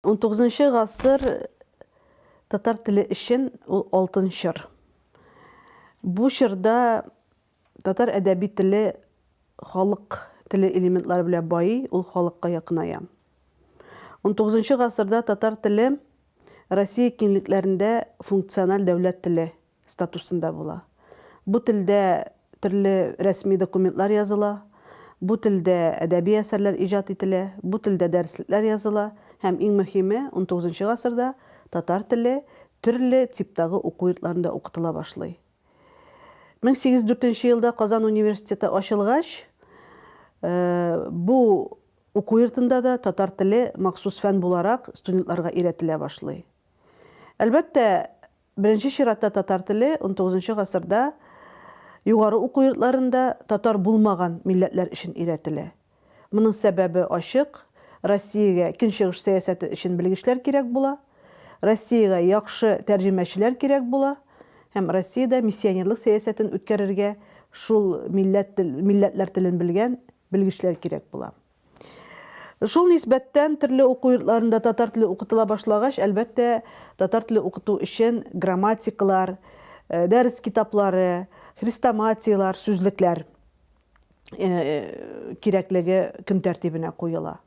он тогызынчы гасыр татар теле өчен ул алтын чор бу чорда Татар әдәби теле халык теле элементлары белән байый, ул халыкка якыная. Унтугызынчы гасырда татар теле Россия киңлекләрендә функциональ дәүләт теле статусында була. Бу телдә төрле рәсми документлар языла, бу телдә әдәби әсәрләр иҗат ителә, бу телдә дәреслекләр языла һәм, иң мөһиме, унтугызынчы гасырда татар теле төрле типтагы уку йортларында укытыла башлый. 1804 нче елда Казан университеты ачылгач, бу уку йортында да татар теле махсус фән буларак студентларга өйрәтелә башлый. Әлбәттә, беренче чиратта татар теле XIX нчы гасырда югары уку йортларында татар булмаган милләтләр өчен өйрәтелә. Моның сәбәбе ачык, Россиягә Көнчыгыш сәясәте өчен белгечләр кирәк була, Россиягә яхшы тәрҗемәчеләр кирәк була һәм Россиядә миссионерлык сәясәтен үткәрергә шул милләт тел, милләтләр телен белгән белгечләр кирәк була. Шул нисбәттән төрле уку йортларында татар теле укытыла башлагач, әлбәттә, татар теле укыту өчен грамматикалар, дәрес китаплары, хрестоматияләр, сүзлекләр, кирәклеге көн тәртибенә куела.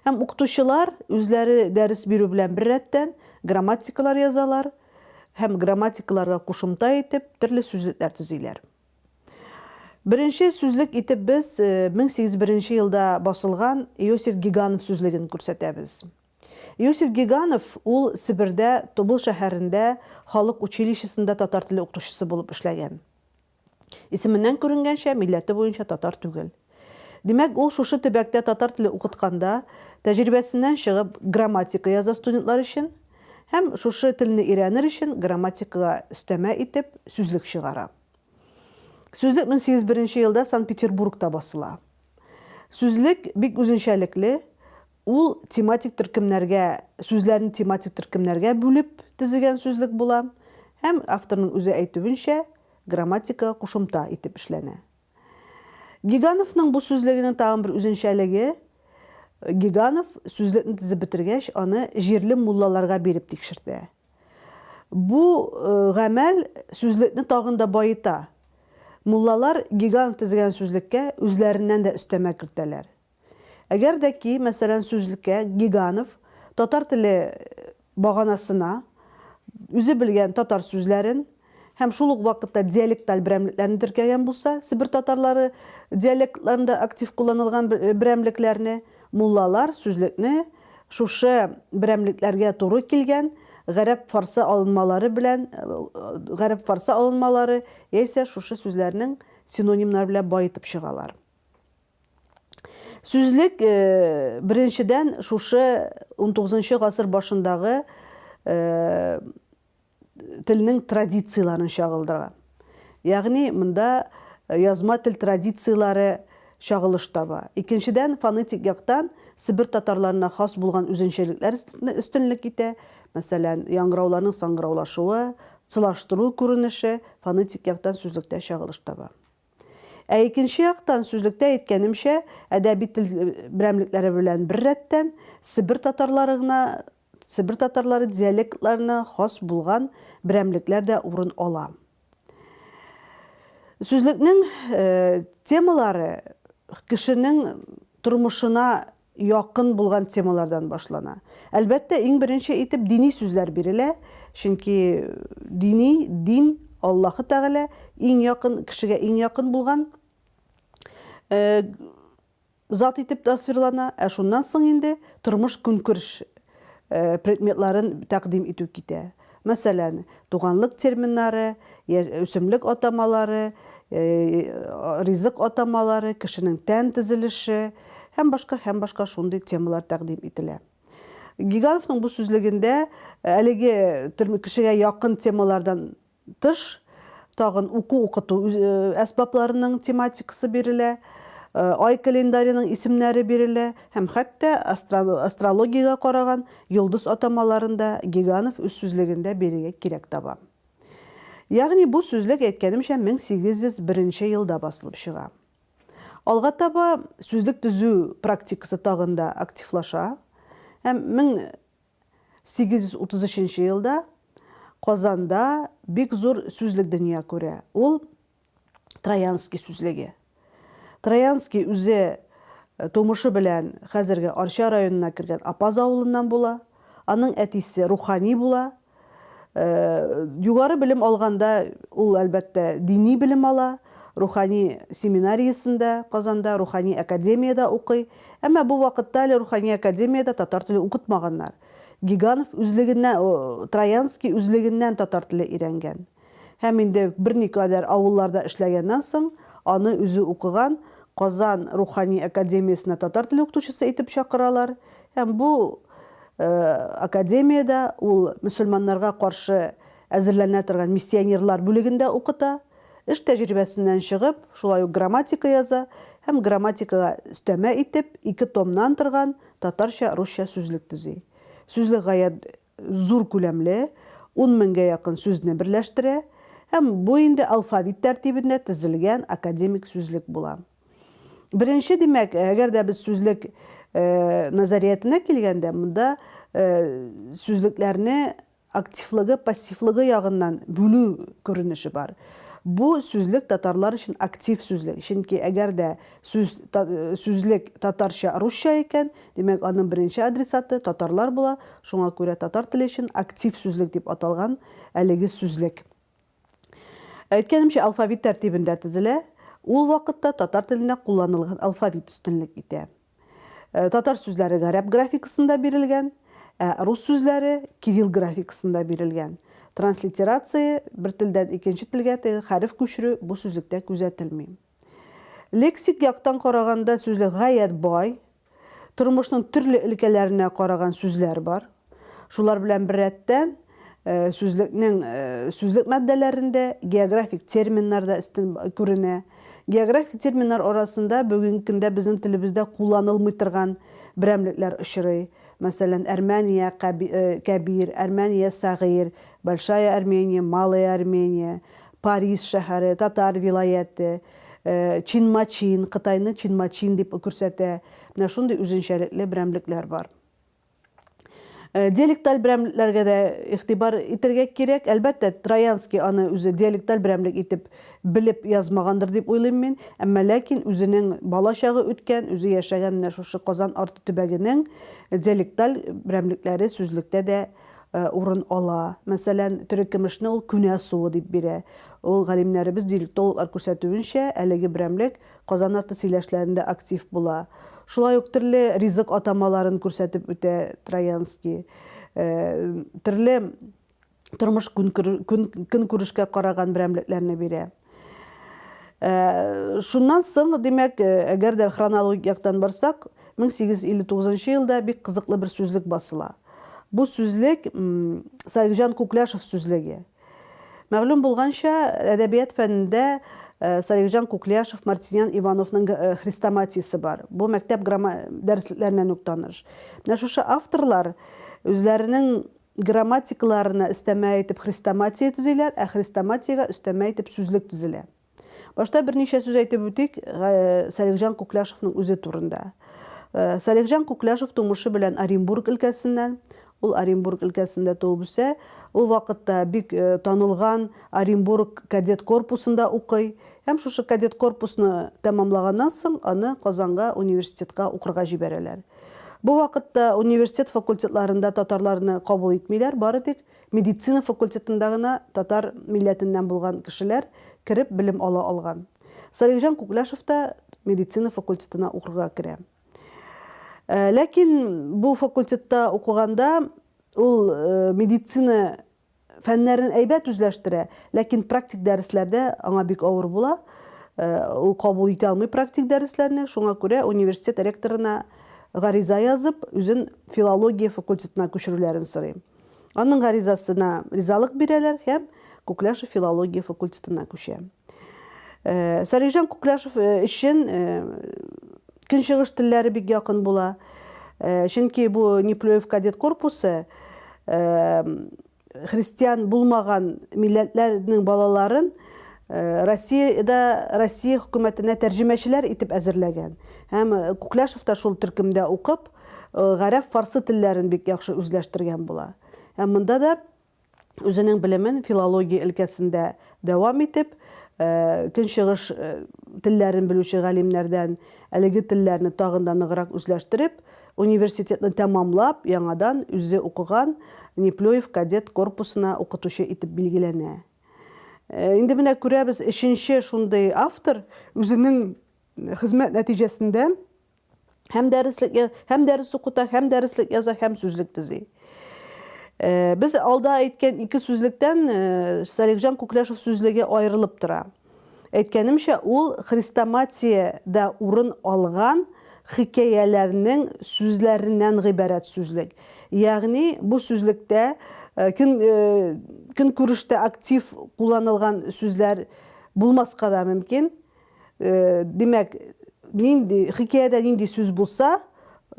Һәм укытучылар үзләре дәрес бирү белән бер рәттән грамматикалар язалар һәм грамматикаларга кушымта итеп төрле сүзлекләр төзиләр. Беренче сүзлек итеп без 1801 э, елда басылган Иосиф Гиганов сүзлеген күрсәтәбез. Иосиф Гиганов ул Себердә Тубыл шәһәрендә халык училищесында татар теле укытучысы булып эшләгән. Исеменнән күренгәнчә, милләте буенча татар түгел. Димәк, ул шушы төбәктә татар теле укытканда, тәҗрибәсеннән чыгып, грамматика яза студентлар өчен һәм шушы телне өйрәнер өчен грамматикага өстәмә итеп сүзлек чыгара. Сүзлек мең сигез беренче елда Санкт-Петербургта басыла. Сүзлек бик үзенчәлекле, Ул тематик төркемнәргә, сүзләрне тематик төркемнәргә бүлеп тезегән сүзлек була һәм, авторның үзе әйтүенчә, грамматикага кушымта итеп эшләнә. Гигановның бу сүзлегенең тагын бер үзенчәлеге, Гиганов сүзлекне тезеп бетергәч, аны җирле муллаларга биреп тикшертә. Бу гамәл сүзлекне тагын да баета. Муллалар Гиганов тезегән сүзлеккә үзләреннән дә өстәмә кертәләр. Әгәр дә ки, мәсәлән, сүзлеккә Гиганов татар теле баганасына үзе белгән татар сүзләрен һәм шул ук вакытта диалекталь берәмлекләрне теркәгән булса, себер татарлары диалектларында актив кулланылган берәмлекләрне, муллалар сүзлекне шушы берәмлекләргә туры килгән гарәп-фарсы алынмалары белән, гарәп-фарсы алынмалары яисә шушы сүзләрнең синонимнары белән баетып чыгалар. Сүзлек э, беренчедән шушы 19 гасыр башындагы э, телнең традицияләрен чагылдыра. Ягъни монда э, язма тел традицияләре чагылыш таба. Икенчедән фонетик яктан Себер татарларына хас булган үзенчәлекләр өстенлек итә. Мәсәлән, яңгырауларның саңгыраулашуы, цылаштыру күренеше фонетик яктан сүзлектә чагылыш таба. Ә икенче яктан, сүзлектә әйткәнемчә, әдәби тел берәмлекләре белән бер рәттән, себер татарлары гына, себер татарлары диалектларына хас булган берәмлекләр дә урын ала. Сүзлекнең темалары кешенең тормышына якын булган темалардан башлана. Әлбәттә, иң беренче итеп дини сүзләр бирелә, чөнки дини, дин, Аллаһы Тәгалә, иң якын, кешегә иң якын булган зат итеп тасвирлана, ә шуннан соң инде тормыш-көнкүреш предметларын тәкъдим итү китә. Мәсәлән, туганлык терминнары, үсемлек атамалары, ризык атамалары, кешенең тән төзелеше һәм башка һәм башка шундый темалар тәкъдим ителә. Гигановның бу сүзлегендә әлеге кешегә якын темалардан тыш, тагын уку-укыту әсбапларының тематикасы бирелә, ай календаренең исемнәре бирелә һәм хәтта астрологиягә караган йолдыз атамаларын да Гиганов үз сүзлегендә бирергә кирәк таба. Ягъни бу сүзлек, әйткәнемчә, 1801 елда басылып чыга. Алга таба сүзлек төзү практикасы тагын да активлаша һәм 833 елда Казанда бик зур сүзлек дөнья күрә. Ул Троянский сүзлеге. Троянский үзе тумышы белән хәзерге Арча районына кергән Апаз авылыннан була. Аның әтисе рухани була. Югары белем алганда ул, әлбәттә, дини белем ала, рухани семинариясендә, Казанда, рухани академиядә укый. Әмма бу вакытта әле рухани академиядә татар теле укытмаганнар. Гиганов үзлегеннән, Троянский үзлегеннән татар теле өйрәнгән. Һәм инде берникадәр авылларда эшләгәннән соң, аны үзе укыган Казан рухани академиясенә татар теле укытучысы итеп чакыралар. Һәм бу академиядә ул мөселманнарга каршы әзерләнә торган миссионерлар бүлегендә укыта. Эш тәҗрибәсеннән чыгып, шулай ук грамматика яза һәм грамматикага өстәмә итеп ике томнан торган татарча-русча сүзлек төзи. Сүзлек гаять зур күләмле, ун меңгә якын сүзне берләштерә һәм бу инде алфавит тәртибендә тезелгән академик сүзлек була. Беренче, димәк, әгәр дә без сүзлек назариятенә килгәндә, монда сүзлекләрне активлыгы, пассивлыгы ягыннан бүлү күренеше бар. Бу сүзлек татарлар өчен актив сүзлек, чөнки әгәр дә Сүз, та, сүзлек татарча-русча икән, димәк, аның беренче адресаты татарлар була, шуңа күрә татар теле өчен актив сүзлек дип аталган әлеге сүзлек. Әйткәнемчә, алфавит тәртибендә төзелә, ул вакытта татар телендә кулланылган алфавит өстенлек итә. Э, татар сүзләре гарәп графикасында бирелгән, ә рус сүзләре кирилл графикасында бирелгән. Транслитерация, бер телдән икенче телгә теге хәреф күчерү бу сүзлектә күзәтелми. Лексик яктан караганда сүзлек гаять бай, тормышның төрле өлкәләренә караган сүзләр бар. Шулар белән беррәттән, сүзлекнең сүзлек матдәләрендә географик терминнар да истин күренә. Географик терминнар арасында бүгенге көндә безнең телебездә кулланылмый торган берәмлекләр очрый. Мәсәлән, Әрмәния, Кәбир, Әрмәния, Сәгыйр, Большая Армения, Малая Армения, Парис шәһәре, татар вилаяте, Чинмачин, Кытайны Чинмачин дип күрсәтә. Менә шундый үзенчәлекле берәмлекләр бар. Диалекталь берәмлекләргә дә игътибар итәргә кирәк. Әлбәттә, Троянский аны үзе диалекталь берәмлек итеп белеп язмагандыр дип уйлыйм мин. Әмма ләкин үзенең бала чагы үткән, үзе яшәгән менә шушы Казан арты төбәгенең диалекталь берәмлекләре сүзлектә дә урын ала. Мәсәлән, терекөмешне ул күнә суы дип бирә. Ул, галимнәребез, диалектологлар күрсәтүенчә, әлеге берәмлек Казан арты сөйләшләрендә актив була. Шулай ук төрле ризык атамаларын күрсәтеп үтә Троянский. Төрле тормыш-көнкүрешкә караган берәмлекләрне бирә. Э, шуннан соң, димәк, э, әгәр дә хронологик яктан барсак, 1859 елда бик кызыклы бер сүзлек басыла. Бу сүзлек Сарикҗан Куклашев сүзлеге. Мәгълүм булганча, әдәбият фәнендә э, Сарикҗан Куклашев, Мартинян Ивановның хрестоматиясе бар. Бу мәктәп дәресләреннән үк таныш. Менә шушы авторлар үзләренең Грамматикаларына өстәмә итеп хрестоматия төзиләр, ә хрестоматиягә өстәмә итеп сүзлек төзелә. Башта берничә сүз әйтеп үтик Салихҗан Кукляшевның үзе турында. Салихҗан Кукляшев тумышы белән Оренбург өлкәсеннән, ул Оренбург өлкәсендә туып үсә, ул вакытта бик танылган Оренбург кадет корпусында укый һәм шушы кадет корпусны тәмамлаганнан соң аны Казанга университетка укырга җибәрәләр. Бу вакытта университет факультетларында татарларны кабул итмиләр, бары тик медицина факультетында гына татар милләтеннән булган кешеләр кереп белем ала алган. Салихҗан Күкләшев та медицина факультетына укырга керә. Ләкин бу факультетта укыганда ул медицина фәннәрен әйбәт үзләштерә, ләкин практик дәресләрдә аңа бик авыр була, ул кабул итә алмый практик дәресләрне, шуңа күрә университет ректорына гариза язып, үзен филология факультетына күчерүләрен сорыйм. Аның гаризасына ризалык бирәләр һәм Күкляшев филология факультетына күчәм. Э, Сәлихҗан Куклашев э, өчен э, көнчыгыш телләре бик якын була. Чөнки бу Неплюев кадет корпусы христиан булмаган милләтләрнең балаларын Россиядә Россия хөкүмәтенә тәрҗемәчеләр итеп әзерләгән. Һәм Куклашев та шул төркемдә укып, гарәп фарсы телләрен бик яхшы үзләштергән була. Һәм монда да үзенең белемен филология өлкәсендә дәвам итеп, көнчыгыш телләрен белүче галимнәрдән әлеге телләрне тагын да ныграк үзләштереп, университетны тәмамлап, яңадан үзе укыган Неплюев кадет корпусына укытучы итеп билгеләнә. Инде менә күрәбез, өченче шундый автор үзенең хезмәт нәтиҗәсендә Һәм дәреслек һәм дәрес укыта, һәм дәреслек яза, һәм сүзлек төзи. Э, без алда әйткән ике сүзлектән э, Салихҗан Күкләшев сүзлеге аерылып тора. Әйткәнемчә, ул хрестоматиядә урын алган хикәяләрнең сүзләреннән гыйбарәт сүзлек. Ягъни бу сүзлектә э, көн көнкүрештә актив кулланылган сүзләр булмаска да мөмкин. Э, димәк, нинди хикәядә нинди сүз булса,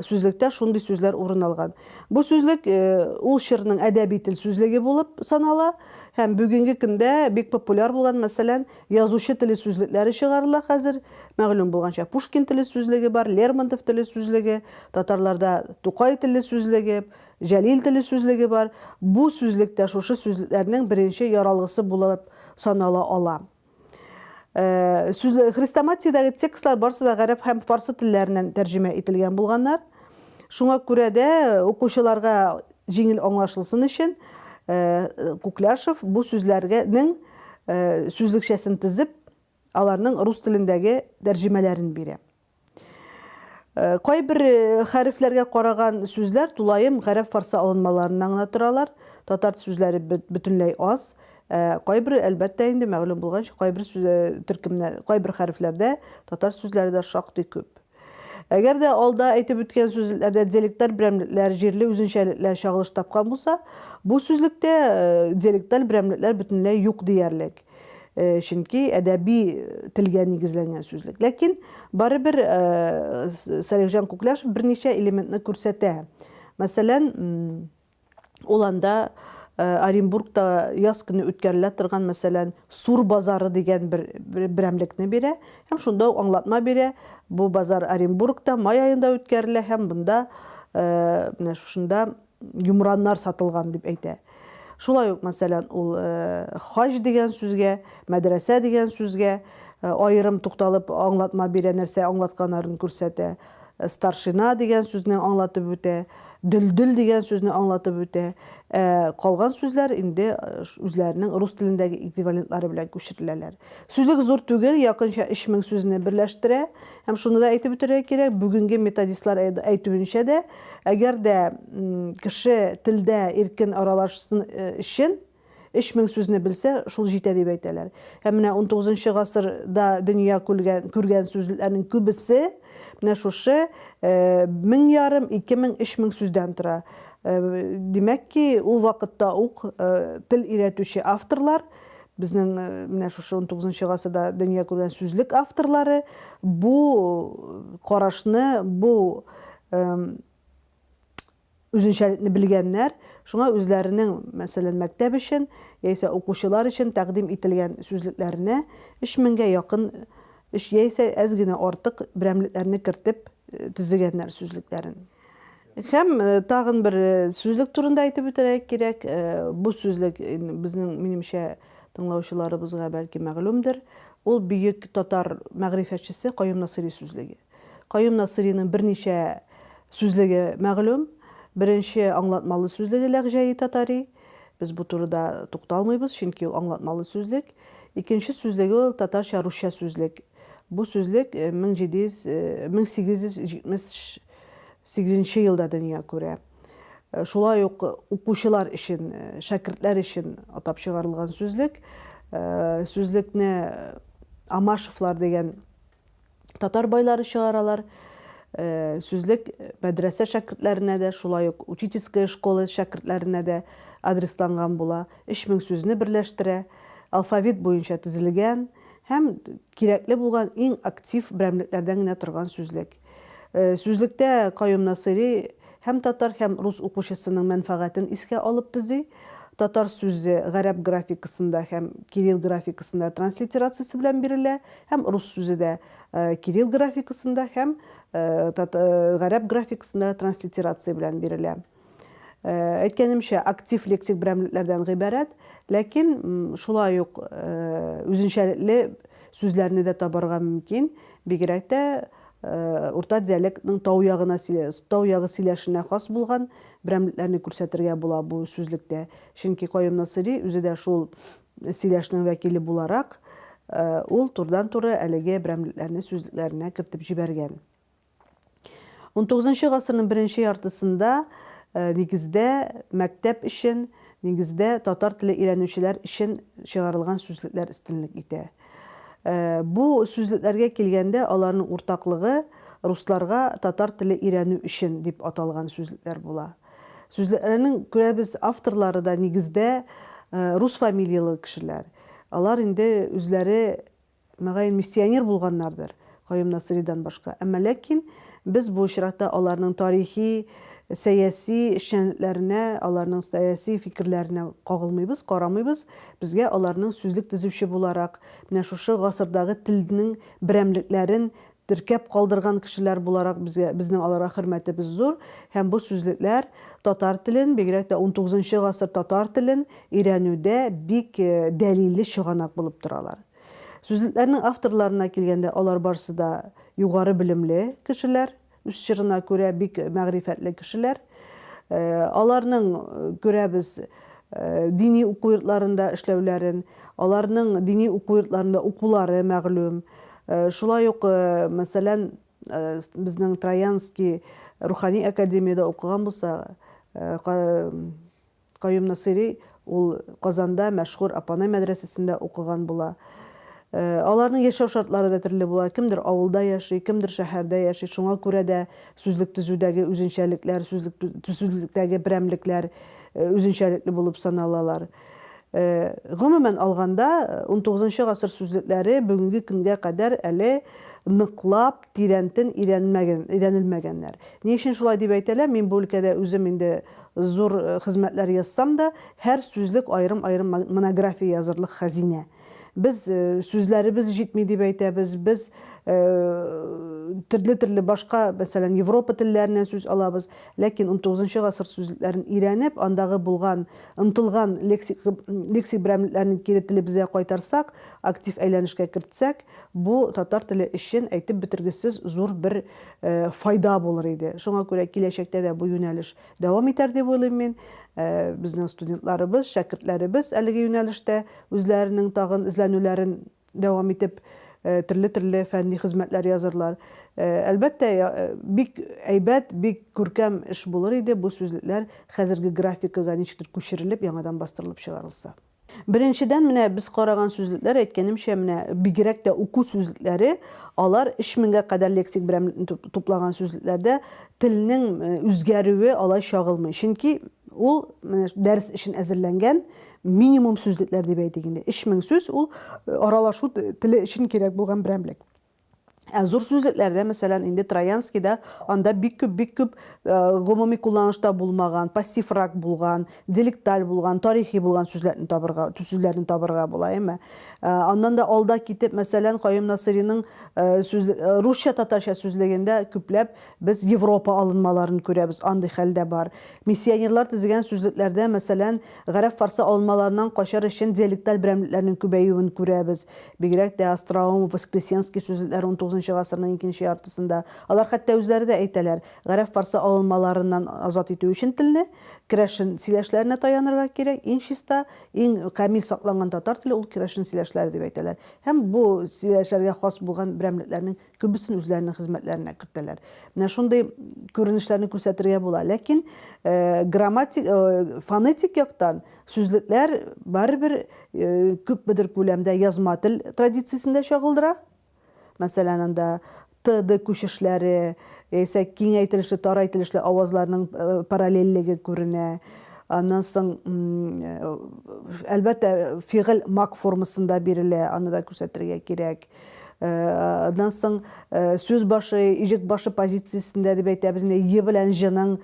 сүзлектә шундый сүзләр урын алган. Бу сүзлек э, ул чорның әдәби тел сүзлеге булып санала һәм бүгенге көндә бик популяр булган, мәсәлән, язучы теле сүзлекләре чыгарыла хәзер. Мәгълүм булганча, Пушкин теле сүзлеге бар, Лермонтов теле сүзлеге, татарларда Тукай теле сүзлеге, Җәлил теле сүзлеге бар. Бу сүзлектә шушы сүзлекләрнең беренче яралгысы булып санала ала. Э, сүзле хрестоматиядәге текстлар барысы да гарәп һәм фарсы телләреннән тәрҗемә ителгән булганнар шуңа күрә дә укучыларга җиңел аңлашылсын өчен э, кукляшев бу сүзләргәнең э, сүзлекчәсен тезеп аларның рус телендәге тәрҗемәләрен бирә Э, кайбер э, хәрефләргә караган сүзләр тулаем гарәп-фарсы алынмаларыннан гына торалар. Татар сүзләре бөтенләй аз. Э, кайбер, әлбәттә, инде мәгълүм булганча, кайбер төркемнәр, кайбер хәрефләрдә татар сүзләре дә шактый күп. Әгәр дә алда әйтеп үткән сүзләрдә диалектлар берәмлекләр, җирле үзенчәлекләр чагылыш тапкан булса, бу сүзлектә диалектлар берәмлекләр бөтенләй юк диярлек. Э, чөнки әдәби э, телгә нигезләнгән сүзлек. Ләкин барыбер э, Сәлихҗан Күкляшев берничә элементны күрсәтә. Мәсәлән, ул анда Оренбургта яз көне үткәрелә торган, мәсәлән, Сур базары дигән бер берәмлекне бирә һәм шунда ук аңлатма бирә. Бу базар Оренбургта май аенда үткәрелә һәм бында менә шушында йомраннар сатылган дип әйтә. Шулай ук, мәсәлән, ул хаҗ дигән сүзгә, мәдрәсә дигән сүзгә аерым тукталып аңлатма бирә, нәрсә аңлатканарын күрсәтә. Старшина дигән сүзне аңлатып үтә, дөлдөл дигән сүзне аңлатып үтә. Ә калган сүзләр инде үзләренең рус телендәге эквивалентлары белән күчереләләр. Сүзлек зур түгел, якынча 3000 сүзне берләштерә. Һәм шуны да әйтеп үтәргә кирәк, бүгенге методистлар әйтүенчә дә, әгәр дә кеше телдә иркен аралашсын өчен 3000 сүзне белсә, шул җитә дип әйтәләр. Һәм менә 19 гасырда дөнья күргән, күргән сүзләрнең күбесе менә шушы 1000 ярым, 2000, 3000 сүздән тора. Димәк ки, ул вакытта ук тел өйрәтүче авторлар Безнең менә шушы унтугызынчы гасырда дөнья күргән сүзлек авторлары бу карашны, бу үзенчәлекне белгәннәр, шуңа үзләренең, мәсәлән, мәктәп өчен яисә укучылар өчен тәкъдим ителгән сүзлекләренә өч меңгә якын яисә әз генә артык берәмлекләрне кертеп төзегәннәр сүзлекләрен. Һәм тагын бер сүзлек турында әйтеп үтәргә кирәк. Бу сүзлек безнең, минемчә, тыңлаучыларыбызга бәлки мәгълүмдер. Ул бөек татар мәгърифәтчесе Каюм Насыйри сүзлеге. Каюм Насыйриның берничә сүзлеге мәгълүм. Беренче аңлатмалы сүзлеге Ләгъҗәи татари. Без бу турыда тукталмыйбыз, чөнки ул аңлатмалы сүзлек. Икенче сүзлеге ул татарча-русча сүзлек. Бу сүзлек 1700, 1870 Сигезенче елда дөнья күрә. Шулай ук укучылар өчен, шәкертләр өчен атап чыгарылган сүзлек. Сүзлекне Амашевлар дигән татар байлары чыгаралар. Сүзлек мәдрәсә шәкертләренә дә, шулай ук учительская школа шәкертләренә дә адресланган була. 3000 сүзне берләштерә, алфавит буенча төзелгән һәм кирәкле булган иң актив берәмлекләрдән генә торган сүзлек. Э, сүзлектә Каюм Насыйри һәм татар һәм рус укучысының мәнфәгатен искә алып төзи. Татар сүзе гарәп графикасында һәм кирилл графикасында транслитерациясе белән бирелә, һәм рус сүзе дә э, кирилл графикасында һәм э, гарәп графикасында транслитерация белән бирелә. Әйткәнемчә, актив лексик берәмлекләрдән гыйбарәт, ләкин шулай ук үзенчәлекле сүзләрне дә табарга мөмкин, бигрәк тә урта диалектның тау ягына, тау ягы сөйләшенә хас булган берәмлекләрне күрсәтергә була бу сүзлектә. Чөнки Каюм Насыйри үзе дә шул сөйләшнең вәкиле буларак, ул турыдан-туры әлеге берәмлекләрне сүзлекләренә кертеп җибәргән. 19 гасырның беренче яртысында э, нигездә мәктәп өчен, нигездә татар теле өйрәнүчеләр өчен чыгарылган сүзлекләр өстенлек итә. Э, бу сүзлекләргә килгәндә аларның уртаклыгы русларга татар теле өйрәнү өчен дип аталган сүзлекләр була. Сүзлекләрнең күрәбез авторлары да нигездә э, рус фамилиялы кешеләр. Алар инде үзләре Мөгаен, миссионер булганнардыр, Каюм Насыйридан башка. Әмма ләкин без бу очракта аларның тарихи, сәяси эшчәнлекләренә, аларның сәяси фикерләренә кагылмыйбыз, карамыйбыз. Безгә аларның сүзлек төзүче буларак, менә шушы гасырдагы телнең берәмлекләрен теркәп калдырган кешеләр буларак безгә, безнең аларга хөрмәтебез зур, һәм бу сүзлекләр татар телен, бигрәк тә унтугызынчы гасыр татар телен өйрәнүдә бик дәлилле чыганак булып торалар. Сүзлекләрнең авторларына килгәндә, алар барсы да югары белемле кешеләр, үз чорына күрә бик мәгърифәтле кешеләр. Аларның, күрәбез, дини уку йортларында эшләүләрен, аларның дини уку йортларында укулары мәгълүм, Шулай ук, мәсәлән, безнең Троянский рухани академиядә укыган булса, Каюм Насыйри ул Казанда мәшһүр Апанай мәдрәсәсендә укыган була. Аларның яшәү шартлары да төрле була. Кемдер авылда яши, кемдер шәһәрдә яши. Шуңа күрә дә сүзлек төзүдәге үзенчәлекләр, сүзлек төзүлектәге берәмлекләр үзенчәлекле булып саналалар. Гомумән алганда, унтугызынчы гасыр сүзлекләре бүгенге көнгә кадәр әле ныклап, тирәнтен өйрәнелмәгәннәр. Ни өчен шулай дип әйтәләр, мин бу өлкәдә үзем инде зур хезмәтләр язсам да, һәр сүзлек аерым-аерым монография язырлык хәзинә. Без сүзләребез җитми дип әйтәбез, без төрле-төрле башка, мәсәлән, Европа телләреннән сүз алабыз, ләкин унтугызынчы гасыр сүзләрен өйрәнеп, андагы булган, омтылган лексик лексик берәмлекләрне кире телебезгә кайтарсак, актив әйләнешкә кертсәк, бу татар теле өчен әйтеп бетергесез зур бер файда булыр иде. Шуңа күрә киләчәктә дә бу юнәлеш Дәвам итәр дип уйлыйм мин. Безнең студентларыбыз, шәкертләребез әлеге юнәлештә үзләренең тагын эзләнүләрен дәвам итеп, төрле-төрле фәнни хезмәтләр язырлар. Әлбәттә, бик әйбәт, бик күркәм эш булыр иде бу сүзлекләр хәзерге графикага ничектер күчерелеп, яңадан бастырылып чыгарылса. Беренчедән, менә без караган сүзлекләр, әйткәнемчә, менә бигрәк тә уку сүзлекләре, алар 3000 гә кадәр лексик берәм туплаган сүзлекләрдә телнең э, үзгәрүе алай чагылмый. Чөнки ул менә дәрес өчен әзерләнгән минимум сүзлекләр дип әйтик инде. 3000 сүз ул э, аралашу теле өчен кирәк булган берәмлек. Ә зур сүзлекләрдә, мәсәлән, инде Троянскийда анда бик күп, бик күп э, гомуми кулланышта булмаган, пассиврак булган, делекталь булган, тарихи булган сүзләрне табырга, сүзләрне табырга була, әйме. Э, аннан да алда китеп, мәсәлән, Каюм Насыриның э, сүзле, русча татарча сүзлегендә күпләп без Европа алынмаларын күрәбез, андый хәлдә бар. Миссионерлар тезгән сүзлекләрдә, мәсәлән, гарәп-фарсы алынмаларынан качар өчен диалекталь берәмлекләрнең күбәюен күрәбез. Бигрәк тә остроум, воскресенский сүзләр унтугызынчы гасырның икенче яртысында. Алар хәтта үзләре дә әйтәләр, гарәп-фарсы алынмаларыннан азат итү өчен телне, керәшен сөйләшләренә таянырга кирәк, иң чиста, иң камил сакланган татар теле ул керәшен сөйләшләре дип әйтәләр. Һәм бу сөйләшләргә хас булган берәмлекләрнең Күбесен үзләренең хезмәтләренә кертәләр. Менә шундый күренешләрне күрсәтергә була. Ләкин грамматик, фонетик яктан сүзлекләр барыбер күпмедер күләмдә язма тел традициясендә чагылдыра. Мәсәлән, анда т-д күчешләре, яисә киңәйтелешле, тарайтелешле авазларның параллельлеге күренә. Аннан соң, әлбәттә, фигыль мак формасында бирелә, аны да күрсәтергә кирәк. Аннан соң сүз башы, иҗек башы позициясендә дип әйтәбез, менә е белән җның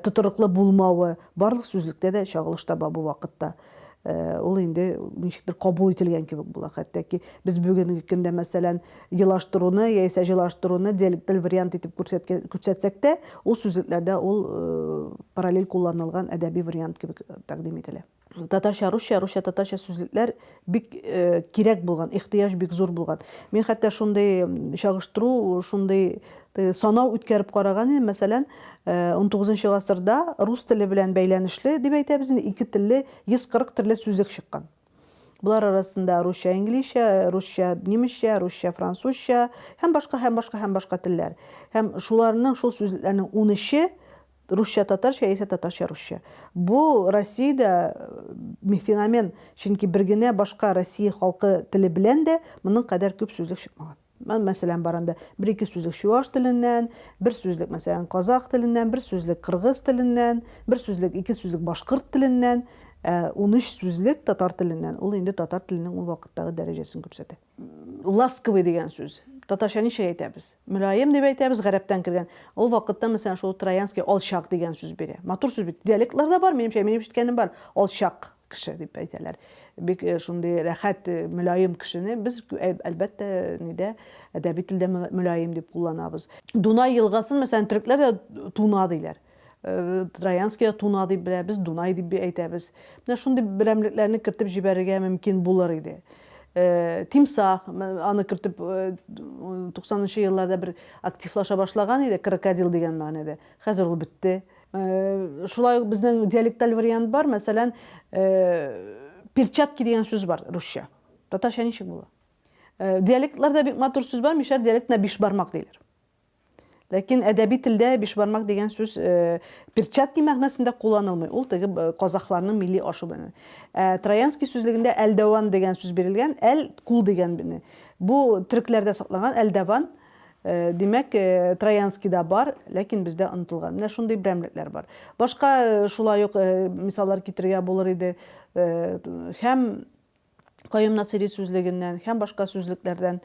тотрыклы булмавы барлык сүзлектә дә чагылыш таба бу вакытта. Ул инде ничектер кабул ителгән кебек була. Хәтта ки без бүгенге көндә, мәсәлән, елаштыруны яисә җылаштыруны диалекталь вариант итеп күрсәтсәк тә, ул сүзлекләрдә ул параллель кулланылган әдәби вариант кебек тәкъдим ителә. татарча русча, русча татарча сүзлекләр бик э, кирәк булган, ихтыяҗ бик зур булган. Мин хәтта шундый чагыштыру, шундый э, санау үткәреп караган идем, мәсәлән, 19 э, гасырда рус теле белән бәйләнешле дип әйтәбез, ике телле 140 төрле сүзлек чыккан. Булар арасында русча, инглизчә, русча, немецчә, русча, французча һәм башка һәм башка һәм башка телләр. Һәм шуларның шул сүзлекләрнең 13-е Русча татарча яисә татарча русча. Бу Россиядә э, феномен, чөнки бер генә башка Россия халкы теле белән дә моның кадәр күп сүзлек чыкмаган. Мен мәсәлән бар анда бер ике сүзлек чуаш теленнән, бер сүзлек мәсәлән казах теленнән, бер сүзлек кыргыз теленнән, бер сүзлек ике сүзлек башкорт теленнән, 13 э, сүзлек татар теленнән. Ул инде татар теленең ул вакыттагы дәрәҗәсен күрсәтә. Ласковый дигән сүз. Татарча ничек әйтәбез? Мөлаем дип әйтәбез, гарәптән кергән. Ул вакытта мәсәлән шул Троянский алчак дигән сүз бирә. Матур сүз бит. Диалектларда бар, минемчә, минем ишеткәнем бар. Алчак кеше дип әйтәләр. Бик э, шундый рәхәт, э, мөлаем кешене без э, әлбәттә нидә әдәби телдә мөлаем дип кулланабыз. Дунай елгасын мәсәлән төрекләр дә Туна диләр. Э, Троянскида Туна дип беләбез, Дунай дип әйтәбез. Менә шундый берәмлекләрне кертеп җибәрергә мөмкин булыр иде. Э, Тимсах, аны кертеп 90-нчы э, елларда бер активлаша башлаган иде, крокодил дигән мәгънәдә. Хәзер ул бетте. Шулай ук безнең диалекталь вариант бар, мәсәлән, перчатки дигән сүз бар русча. Татарча ничек була? Диалектларда бик матур сүз бар, мишәр диалектына биш бармак диләр. Ләкин әдәби телдә бишбармак дигән сүз э, перчатки мәгънәсендә кулланылмый. Ул теге э, казахларның милли ашы белән. Ә Троянский сүзлегендә әлдәван дигән сүз бирелгән, әл кул дигән бене. Бу төрекләрдә сакланган әлдәван, э, димәк, э, Троянскийда бар, ләкин бездә онытылган. Менә шундый берәмлекләр бар. Башка э, шулай ук э, мисаллар китерергә булыр иде. Э, һәм Каюм Насыйри сүзлегеннән һәм башка сүзлекләрдән.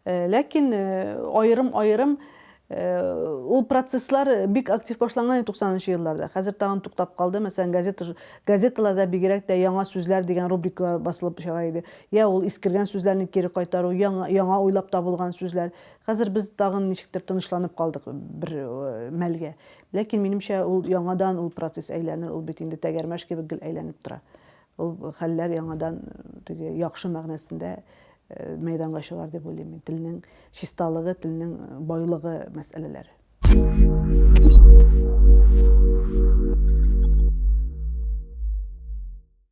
Э, ләкин аерым-аерым э, ул э, процесслар э, бик актив башланган 90-нчы елларда. Хәзер тагын туктап калды. Мәсәлән, газета газеталарда бигрәк тә яңа сүзләр дигән рубрикалар басылып чыга иде. Я ул искергән сүзләрне кире кайтару, яңа, яңа уйлап табылган сүзләр. Хәзер без тагын ничектер тынычланып калдык бер э, мәлгә. Ләкин минемчә ул яңадан ул процесс әйләнер, ул бит инде тәгәрмәш кебек гел әйләнеп тора. Ул хәлләр яңадан теге яхшы мәгънәсендә мәйданга чыгар дип уйлыйм мин. Телнең чисталыгы, телнең байлыгы мәсьәләләре.